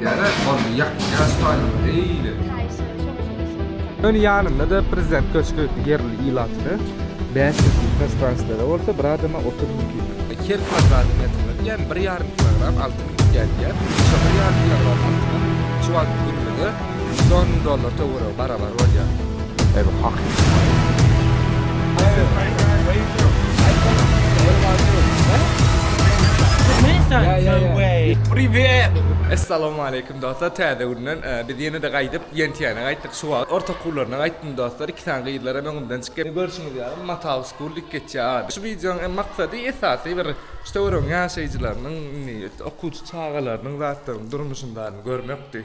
Gele boldy yak ýaş taýyň eýle. Öň ýanynda-da prezident köşgi ýerli ilatyny bäş ýüz ýyl prostranstlere bolsa bir adama otuz mümkin. Her kwadrat metre diýen bir ýarym kilogram altyn gidýär. Şo bir ýarym kilogram altyn şu wagt günümizde million dollar töweregi barabar bolýar. Eý hakyky. Essalamaleýkum dostlar täze günden biz ýene-de gaýdyp Ýentiýäne gaýtdyk şu wagt orta okuwlaryna gaýtdym dostlar iki sany gyzlar hem öňümden çykýar görşüňiz ýaly Matau school diýip geçýär ady şu wideonyň hem maksady esasy bir şu töweregiň ýaşaýjylarynyň indi okuwçy çagalarynyň zatlaryň durmuşyň baryny görmekdi.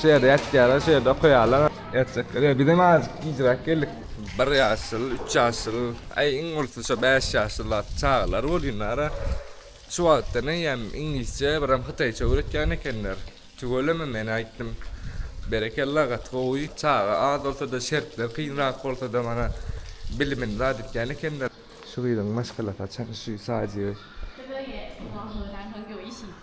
Şu ýerde ýatýarlar, şu ýerde okaýarlar. Ýatjaklar ýok. Bizem azajyk gijräk geldik. Bir ýaşyl, üç ýaşyl, aý iň ulusyny şo bäş ýaşyl zat çagalar bolýanlar-a. Şu wagtdan eýýäm iňlisçe, birem hytaýça öwretýän ekenler. Tüweleme men aýtdym. Berekella gaty gowy. Çaga az bolsa-da, şertler kynrak bolsa-da mana bilimini zat etýän ekenler. Şu gyzyň maşgalasy haçan şu Sajibi.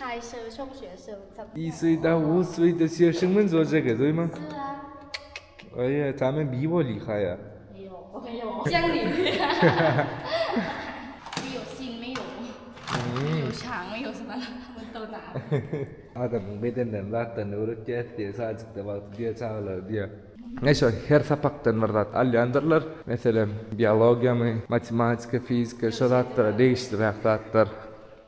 Kaýşy şok şeýle sögüp tapyp. I swy da u swy da sýeşin men zorja ge zoýma. Aýe ta men bi boli ha ýa. Sen bi. Bi ýok sin mi ýok. Bi ýok şaň mi ýok sana. Bu to da. Adamyň bedenlerini zatlaryny öwretýäs diýe sadjykda wagty diýe çagalar diýe. Neşe her sapakdan bir zat alýandyrlar. Meselem biologiýa my matematika fizika şo zatlara degişliräk zatlar.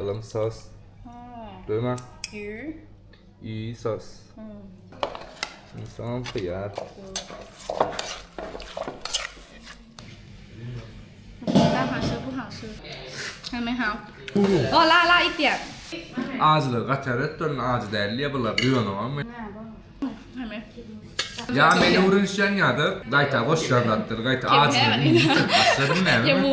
Alam sos. Döna. Ü. Ü sos. Soňam hyýar. Hemen ha. Ola ala itýär. Ajylar gatar etdirin, ajy däl diýe bular duýanam. Hemen. Ya meni urunşan ya da gayta boş yazlattır gayta acı. Başladım ben.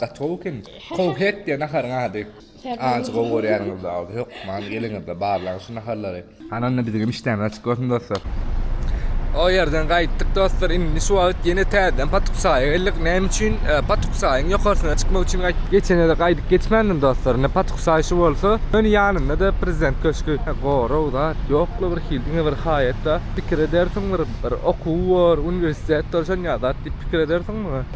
Gaty gowy eken. Kowhet diýen naharyň ady. Ajy gowy görýäniňiz zalda. Hökman geliňizde barlaň şu naharlary. Hany onda biziň hem işdämiz açyk bolsun dostlar. O ýerden gaýtdyk dostlar. Indi şu wagt ýene täzeden Patuksaýa geldik. Näme üçin? Patuksaýyň ýokarsyna çykmak üçin gaýtdyk. Geçenede gaýdyp geçmändim dostlar. Indi Patuksaý şu bolsa, ýöne ýanynda-da Prezident köşgi. Gorag zat ýok-la bir hil. Diňe bir haýat-da. Pikir edersiň bir okuw bor, uniwersitet bor şonýa zat diýip pikir edersiň muňa.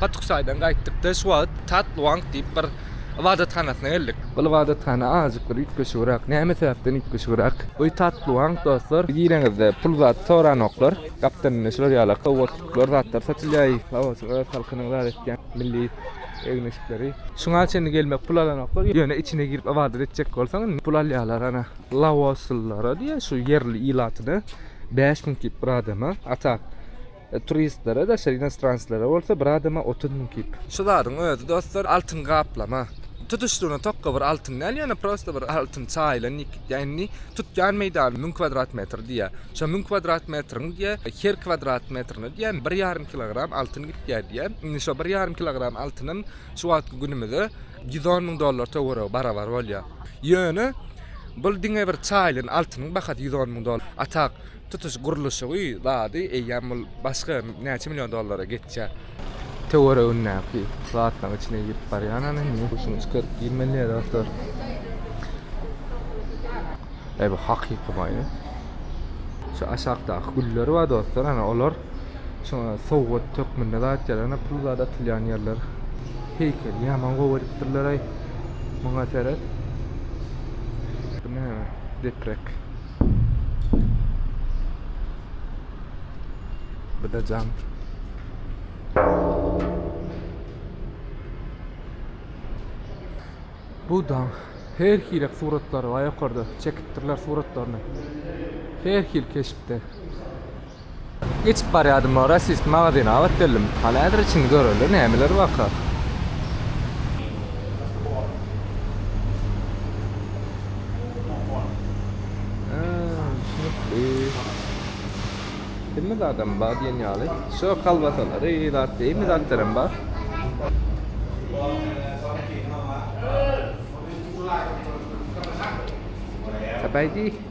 Patuksaýdan gaýtdykda şu wagt Tatluang diýip bir ybadathanasyna geldik. Bu ybadathana azajyk bir üýtgeşigrak. Näme sebäpden üýtgeşigrak? Bu Tatluang dostlar, gireňizde pul zat soranoklar. Gapdan indi şular ýaly kowbotluklar, zatlar satylýar. Sag bolsun öz halkynyň zat etýän milli egin-eşikleri. Şuňa çenli gelmek pul alanoklar. Ýöne içine girip ybadat etjek bolsaň indi pul alýarlar ana. Laoslylara diýýär şu ýerli ilatyna bäş müň kip bir adama, a tak turistlere daşary inostranslara bolsa bir adama otuz müň kip. Şu zadyň özi dostlar altyn gaplama. Tutuşlygyna tokga bir altyn däl, ýöne prosta bir altyn çaýylan ýigitýä indi tutýan meýdany müň kwadrat metr diýýär. Şo müň kwadrat metriň diýä, her kwadrat metrine diýä, bir ýarym kilogram altyn gitýär diýä. Indi şo bir ýarym kilogram altynam şu wagtky günümize ýüz on müň dollar töweregi barabar bolýar. Ýöne bul diňe bir çaýylan altynyň bahasy ýüz on müň dollar. A tak, tutuş gurluşygy, zady, eýýäm bul başga näçe million dollara geçýär. Töweregindäki zatlaryň içine girip barýan ony indi. Guşuňy çykaryp girmeli dostlar. Eý bu hakyky maýa. Şu aşakdaky güller bar dostlar, ana olar şoňa sowgat hökmünde zat ýaly, ana pul zat atylýan ýerler. Heýkeli ýaman gowy edipdirler-aý. Muňa seret. Bu näme? Deprek. Bu da jam. Bu da her hili suratlar var yukarıda. Çekipdirler suratlarını. Her hil keşpte. Geçip barýadym o rossiýski magazyna gabat geldim. Hany häzir içini göreli nämeler barka. Hemme zadam bar diýen ýaly. Şu kolbasalary, zat, hemme zatlaram bar. Sabaýdy.